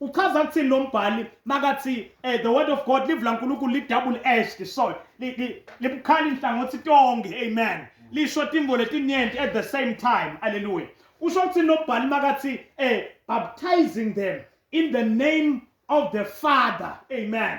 uchaza kuthini lo mbhali makathi um the word of god live lankulunkulu li-double edged sword libukhali inhlangothi tonke amen lisho timbo letinyenti at the same time alleluya usho kuthini lo mbhali makathi um baptizing them in the name of the father amen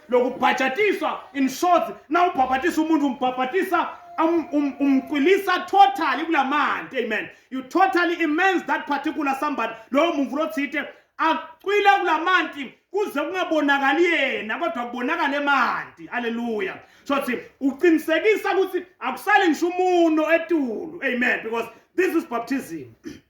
lokubhajatiswa in short na ubhabhatisa umuntu umbhabhatisa um, um, umqwilisa totally kula manti amen you totally immense that particular somebody lowo muntu lothite acwile kula manti kuze kungabonakali yena kodwa kubonakala emanti haleluya so thi uqinisekisa ukuthi akusali ngisho umuno etulu amen because this is baptism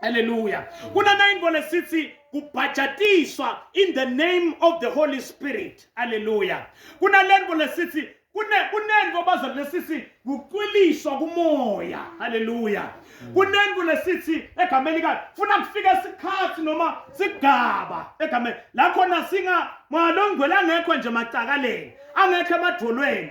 Hallelujah. Kuna nayingo lesithi kubhajatiswa in the name of the Holy Spirit. Hallelujah. Kuna lengo lesithi kune kunengo baza lesithi kucwiliswa kumoya. Hallelujah. Kunengo lesithi egameni lika funa kufika isikhathi noma sigaba egameni la khona singa malongwela ngekho nje macakaleni angekho emadolweni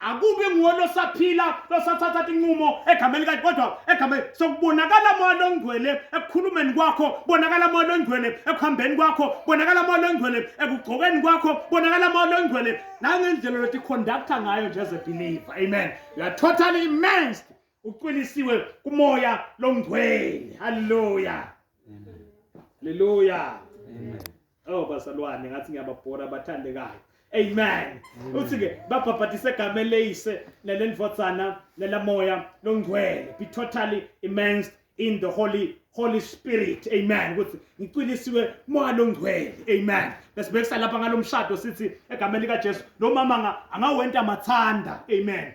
akubi nguwe losaphila losathatha inqumo egameni kanti kodwa egameni sokubonakala moya longcwele ekukhulumeni kwakho bonakala moya longcwele ekuhambeni kwakho bonakala moya longcwele ekugqokeni kwakho bonakala moya longcwele nangendlela lothi conductor ngayo nje as a believer amen you are totally immersed ucwilisiwe kumoya longcwele haleluya haleluya amen Oh bazalwane ngathi ngiyababhora abathandekayo. Amen. Mm. Uthi ke babhabhatisa egameni leyise nelendvodzana nelamoya longcwele. Be totally immersed in the holy Holy Spirit. Amen. Ukuthi ngicwilisiwe moya longcwele. Amen. Bese bekusala lapha ngalomshado sithi egameni lika Jesu lo mama angawenta mathanda. Amen.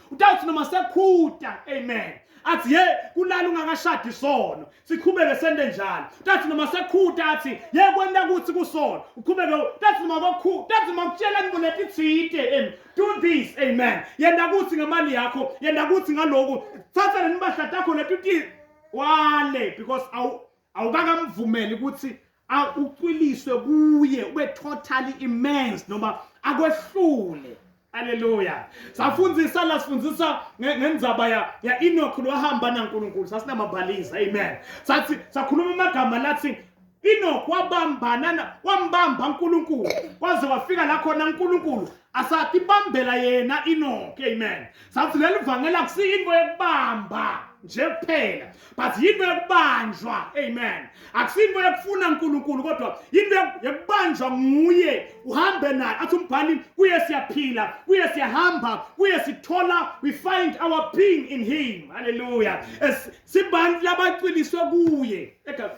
udawuthi noma sekhuta amen athi ye kulala ungakashadi isono siqhubeke sende njalo tathi noma sekhuta athi ye kwenta kuthi kusono uqhubeke tathi noma kokhu tathi noma kutshela ngibo letithite em do this amen yenda kuthi ngemali yakho yenda kuthi ngaloku thatha lenibahlata khona tuti wale because awu awukakamvumeli ukuthi ucwiliswe kuye ube totally immense noma akwehlule Haleluya. Safundisa la sifundisa ngenzaba ya ya Enoch lwahamba naNkulunkulu. Sasinamabhaliza. Amen. Sathi sakhuluma amagama lathi Enoch wabambana wambamba uNkulunkulu kwaze wafika la khona uNkulunkulu asathi bambela yena Enoch. Amen. Sathi leli vangela kusiyinto yokubamba nje kuphela but yinto yokubanjwa amen akusinto yokufuna uNkulunkulu kodwa yinto yokubanjwa nguye uhambe naye athi umbhali kuye siyaphila kuye siyahamba kuye sithola we find our being in him haleluya sibantu labacwiliswe kuye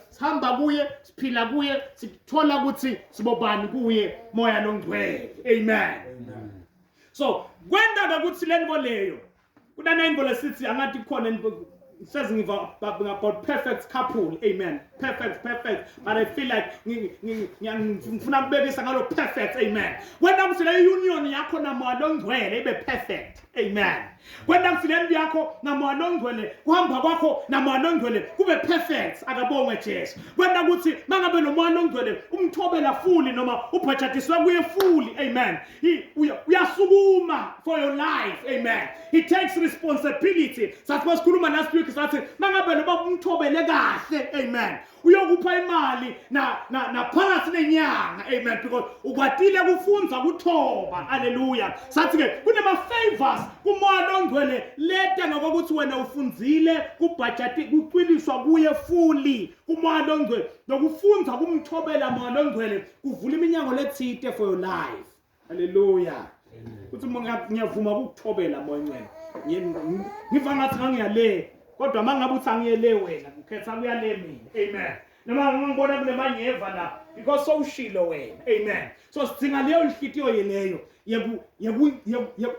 sihamba kuye siphila kuye sithola ukuthi sibobani kuye moya longcwele amen so kwenda ukuthi lento leyo kunana imbolo sithi angathi khona says about perfect couple amen perfect perfect but i feel like ngifuna kubekisa ngalo perfect amen kwenta ukuthi le union yakho namoya longcwele ibe perfect amen kwenta ukuthi le nto yakho namoya longcwele kuhamba kwakho namoya longcwele kube perfect akabongwe jesu kwenta ukuthi mangabe nomoya longcwele umthobela fuli noma ubhajatiswe kuye fuli amen He uyasukuma for your life. Amen. He takes responsibility. Sathi masikhuluma last week sathi mangabe lo baba umthobele kahle. Amen. Uyokupha imali na na naphakathi nenyanga. Amen. Because ukwatile kufunza kuthoba. Hallelujah. Sathi ke kunema favors kumoya ongcwele leta ngokuthi wena ufunzile kubhajati kucwiliswa kuye fully kumoya ongcwele nokufunza kumthobela moya ongcwele kuvula iminyango lethite for your life haleluya uthi ngiyavuma ukukuthobela moya ncela ngiva ngathi ngangiyale kodwa uma ngabe uthi angiyele wena ngikhetha kuyale mina amen noma ngibona kunemanyeva la because sowushilo wena amen so sidinga leyo nhlikiyo yeleyo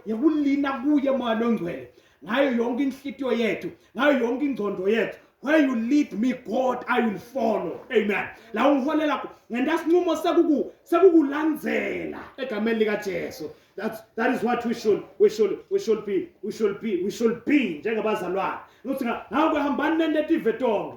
yekulina kuye moya longcwele ngayo yonke inhlitiyo yethu ngayo yonke ingcondo yethu where you lead me god i will follow amen la ungiholela ngentasinqumo sekuku sekukulandzela egameni likajesu that's that is what we should we should we should be we should be we should be njengabazalwane ukuthi ngawe hambani nende tive tonke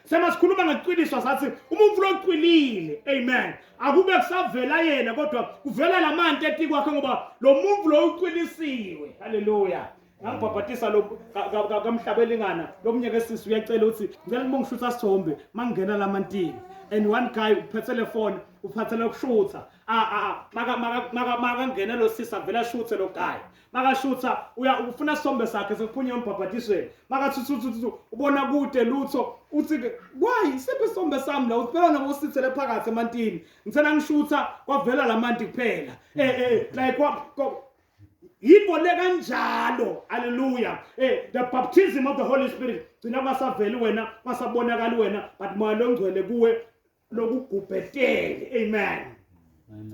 Sema sikhuluma ngeqiniswa sathi umuntu loqinile amen akube kusavela yena kodwa kuvela lamanti eti kwakhe ngoba lo muntu lo uqinisiwe haleluya ngangibhabhatisa lo kamhlabelingana lo mnye ke sisi uyacela ukuthi ngicela uma ngishutha sithombe mangingena lamantini and one guy uphethe le phone uphathele ukushutha makangena lo sisi avele ashuthe lo guy makashutha uya ufuna isithombe sakhe sekuphunywa embhabhadisweni makathuthuthu ubona kude lutho uthi why siphi isithombe sami la uphela nabosithele phakathi emantini ngithena ngishutha kwavela lamanti kuphela eh eh like what yikho le kanjalo haleluya eh the baptism of the holy spirit gcina kwasaveli wena kwasabonakali wena but moya longcwele kuwe lokugubhetele amen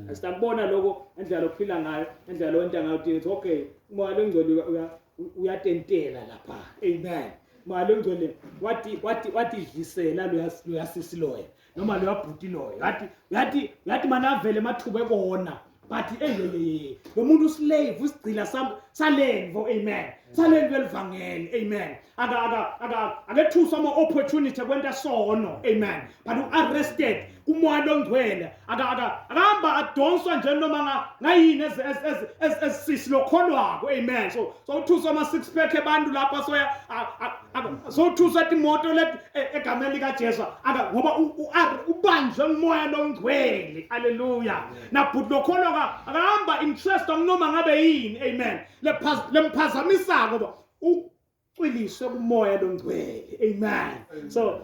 asitambona lokho endlela lokuphila ngayo endlela lonta ngayo uthi okay umoya lengcwele uyatentela lapha amen moya lengcwele wathi wathi wathi dlisela loyasisi loya noma loyabhuti loyo yathi yathi yathi manavele mathuba ekona but eyeyeye lo muntu uslave usigcina salenvo amen salenvo elivangeli amen akethuswa ama-opportunity kwenta sono amen but u-arrested kumoya longcwele akahamba adonswa nje noma ngayini ezisisi lokholwako amen so sowuthuswa ama-six pack abantu lapha soya sowuthuswa timoto e- egameni likajesu ngoba ubanjwe ngumoya longcwele aleluya na bhuti lokholwa ka akahamba interest akunoma ngabe yini amen lemphazamisako ba ucwiliswe kumoya longcwele amen so